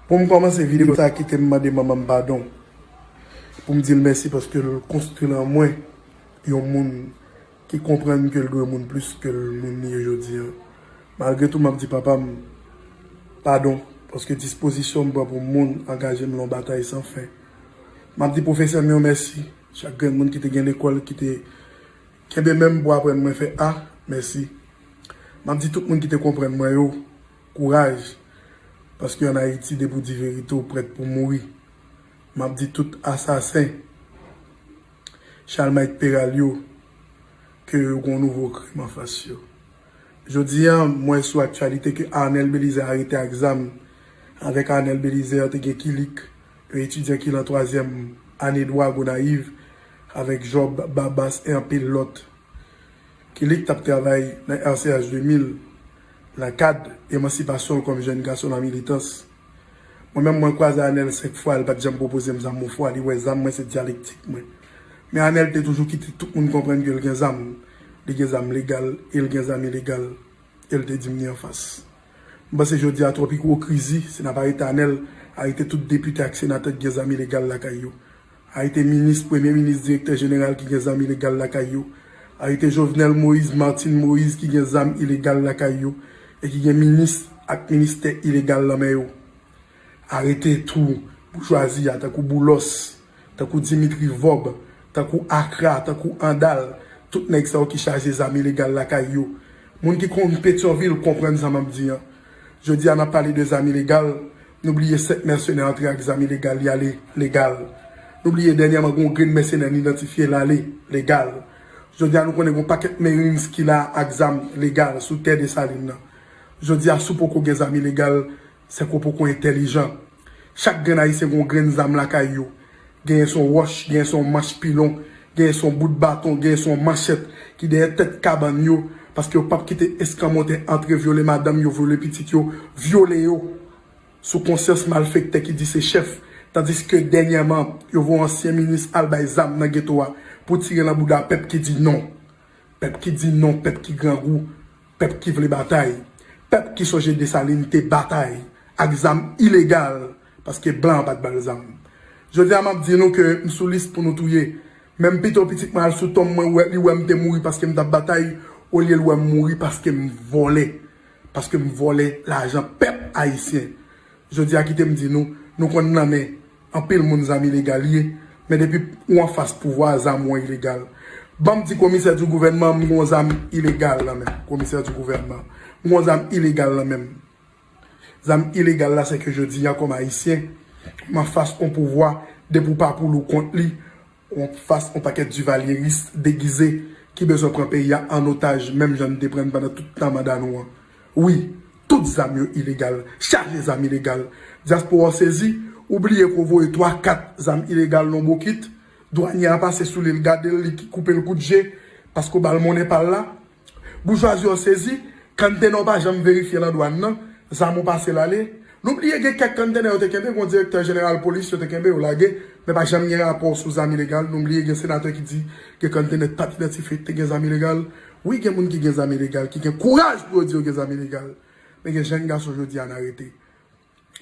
Poum kòmanse video sa kitem mande manmanm padon poum dil mèsi paskel konstwi lan mwen yon moun ki konprann kel dwe moun plis ke moun li ye jodi an malgre tou map di papam padon paske dispozisyonm pran pou moun angajem lan batay san fen map di pwofesèm yo mèsi chak grenn moun kite gen lekòl kite kenbe menm pou aprann mwen fè a mèsi map di tout moun kite konprann mwen yo. Kouraj, paske an Ayiti depi w di verite w prèt pou mouri. M ap di tout asasen Chalmayt Peral yo ke yo gen yon nouvo krim anfas yo. Jodi a, m wè sou aktyalite ke Arnel Belizè arete ak zam. Avèk Arnel Belizè te gen Kilik, yon etidyan ki lan twazyèm ane dwa Gonayiv, avèk Job Babas e anpil lòt. Kelly ki t ap travay nan RCH 2000 nan kad emansipasyon l kòm jèn gason nan militans. Mwen menm mwen kwaze Anèl 5 fwa li pa t janm pwopoze m zam yon fwa li wè zam mwen se dyalektik mwen. Men Anèl te toujou kite tout moun konprann ke l gen zam, li gen zam legal e l gen zam ilegal e l te di m ni anfas. M panse jodi a twòp ikwokrizi si n ap arete Anèl, arete tout depite ak senatè ki gen zam ilegal lakay yo. Arete minis, premye minis, direktè jeneral ki gen zam ilegal lakay yo. Arete Jovenel Moïse, Martine Moïse ki gen zam ilegal lakay yo e ki gen minis ak ministè ilegal lan men yo. Arete tou boujwazi a tankou Boulos, tankou Dimitri Vob, tankou Akra, tankou Andal, tout nèg sa yo ki chaje zam ilegal lakay yo. Moun ki konn Petyonvil konprann sa map di an. Jodi a nap pale de zam ilegal, Nou bliye 5 mèsenè antre ak zam ilegal li ale legal. Nou bliye dènyèman gen yon grenn mèsenè n idantifye l ale legal. Jodi a nou konnen gen yon pakèt Marines ki la ak zam legal sou tè Desalin nan. Jodi a si w poko gen zam ilegal, se ke w poko entèlijan. Chak grenn Ayisyen gen yon grenn zam lakay yo. Genyen son wòch, genyen son manch pilon, genyen son bout baton, genyen son manchèt ki dèyè tèt kabann yo paske yo pap kite eskanmòtè antre vyole madanm yo, vyole pitit yo, vyole yo sou konsyans malfektè ki di se chèf tandiske dènyèman yo voye ansyen minis al bay zam nan geto a pou tire nan bouda pèp ki di non. Pèp ki di non, pèp ki grangou. Pèp ki vle batay, pèp ki sonje Dessalines te batay ak zam ilegal paske blan pat bal zam. Jodi a map di nou ke m sou lis pou nou touye, men m pito pitit mwen al sou tonm mwen wè li wè m te mouri paske m tap batay olye l wè m mouri paske m vòlè, paske m vòlè lajan pèp ayisyen. Jodi a kite m di nou, nou konn lanmen. Anpil moun zam ilegal ye men depi ou anfas pouvwa zam ou an ilegal banm di komisè di gouvènman m gon zam ilegal nan menm komisè di gouvènman m gon zam ilegal nan menm zam ilegal la sèke jodi a kòm ayisyen m anfas on pouvwa depi ou pa pou li ou kont li Ou fas on pakèt Duvalieris degize ki bezwen pran peyi a an otaj menm jan n te pran n pandan tout tan manda nou an. Wi, tout zam yo ilegal, chaje zam ilegal. Dyaspora w sezi, ou bliye ke w voye twa kat zam ilegal nan w bokit, dwanye a pase sou li l gade l li koupe l kout je paske w ba l monnen pa l la. Boujwazi an sezi, kanntenè w pa janm verifye lan dwàn nan, zam ou pase l ale. Nou bliye gen kèk kanntenè yo te kenbe gon direktè jeneral polis yo te kenbe yo lage men pa janm gen rapò sou zam ilegal. Nou bliye gen senatè ki di gen kanntenè pat idantifye ki te gen zam ilegal. Wi gen moun ki gen zam ilegal ki gen kouraj pou yo di yo gen zam ilegal men gen jenn gason jodi a n arete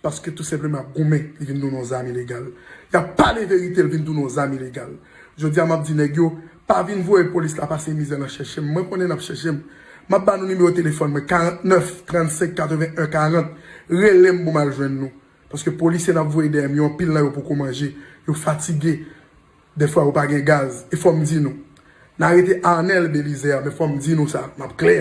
Paske tou senpleman ap goumen li vin tounen yon zam ilegal. Yap pale verite li vin tounen yon zam ilegal. Jodi a map di nèg yo pa vin voye polis la pase mizè nan chèche m. Mwen konnen nap chèche m. Map ba nou nimewo telefòn mwen 49 35 81 40 rele m pou m al jwenn nou. Paske polisye nap voye dèyè m yo anpil nan yo poko manje. Yo fatige. Dèfwa yo pa gen gaz. E fò m di nou. N a arete Arnel Belizaire men fò m di nou sa, m ap klè.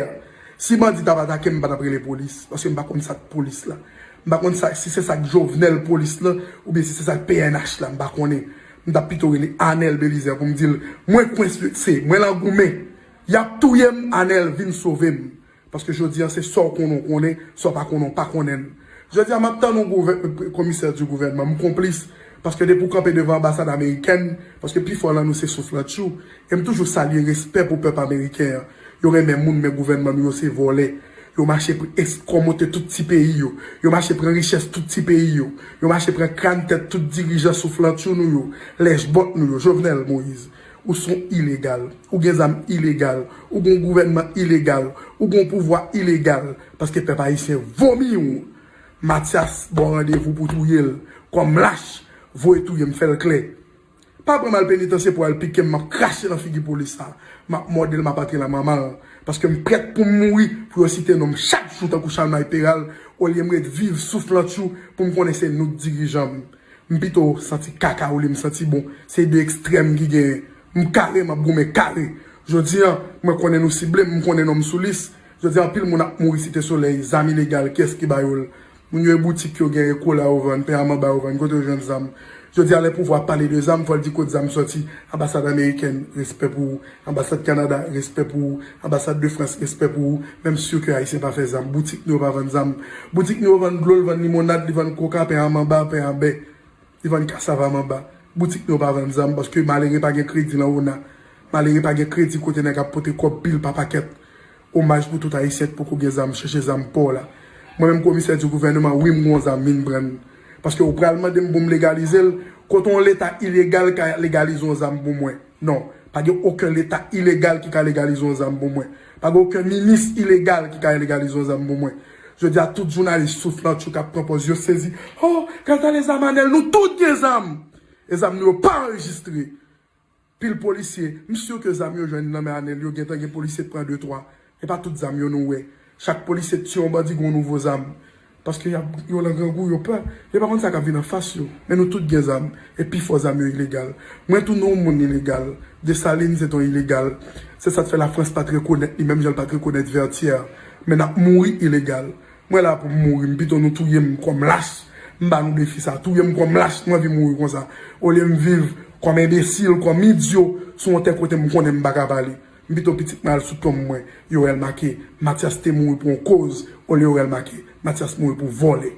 Si bandi t ap atake m, m pa t ap rele polis. Paske m pa konn sa k polis la. M pa konn sa, si se sa k Jovenel polis lan oubyen si se sa k pnh la, m pa konnen. M t ap pito rele Arnel Belizaire pou m di l, mwen kwense, mwen lan goumen. Y ap touye m, Arnel, vin sove m. Paske jodi an se sa w konnen w konnen, sa w pa konnen w pa konnen l. Jodi a m ap tann yon komisè di gouvènman m konplis paske depi w kanpe devan anbasad amerikèn, paske pi fò lan nou se souflantchou, e m toujou salye respè pou pèp ameriken an. Yo renmen moun men gouvènman nou yo se vòlè. Yo mache eskomote tout ti peyi yo. Yo mache pran richès tout ti peyi yo. Yo mache pran kran tèt tout dirijan souflantchou nou yo, lèchbòt nou yo, Jovenel Moïse. Ou son ilegal. Ou gen zam ilegal. Ou gon gouvènman ilegal. Ou gon pouvwa ilegal. Paske pèp ayisyen vomi ou. Matyas baw randevou pou touye l. Kòm lach. Voye touye m fè l klè. Pa pran m al penitansye pou al pike m map krache nan figi polis sa. Map mòde l map antre nan manman l. Paske m prèt pou m mouri pou yo site non m chak jou tankou Chalmay Peral olye m ret viv souf lantchou pou m konnen se nou k dirijan m. M pito santi kaka olye m santi bon. Se 2 ekstrèm ki genyen. M kare, m ap goumen kare. Jodi an, mwen konnen nou sible m, m konnen non m sou lis. Jodi a anpil moun ap mouri Site Solèy, zam ilegal, kiyès ki ba yo l? Moun yo e boutik yo gen, e kola yo vann, pen a manba yo vann, kote yo jwenn zam? Jodi a lè pouvwa pale de zam, fò l di kot zam sòti, anbasad amerikèn, respè pou ou. Anbasad Canada respè pou ou anbasad de France respè pou ou menm sur ke ayisyen pa fè zam boutik nou yo pa vann zam boutik nou yo vann dlo l vann limonad li vann koka pen a manba pen a bè li vann kasav a manba boutik nou yo pa vann zam paske malere pa gen kredi lan ona malere pa gen kredi kote nèg ap pote kòb pil pa pakèt Omaj pou tout ayisyen k poko gen zam chèche zam paw la mwen menm komisè di gouvèneman wi m gon zam vin prann paske ou pral mandem poum legalizel kote yon leta ilegal ka legalize yon zam pou mwen non pa gen oken leta ilegal ki ka legalize yon zam pou mwen pa gen oken minis ilegal ki ka legalize yon zam pou mwen jodia tout jounalis souf nan tchouk ap pran pòz yo sezi oh gad ale zam anèl nou tout gen zam e zam nou yo pa anrejistre. Pil polisye, m sur ke zam yo jwenn nan men Anel yo gentan gen polisye k pran de twa, e pa tout zam yo nou wè. Chak polisye k tiye yon bandi gen yon nouvo zam. Paske yap yo lan grangou yo pè, yo pa konn sa kap vin anfas yo. Men nou tout gen zam, e pi fò zam yo ilegal. Mwen tou nou moun ilegal. Desalin se t yon ilegal. Se sat fè la Frans pat rekonèt li menm jan l pat rekonèt Vètyè. Men nap mouri ilegal. Mwen la poum mouri m pito nou touyem kòm lach m ba nou defi sa touyem kòm lach m anvi mouri konsa olyem viv kòm enbesil kòm idyo sou yon tè kotem konnen m paka pale m pito pitit mwen al sou tonm mwen yorèl make matyas te mouri pou yon koz olye yorèl make matyas mouri pou vòlè.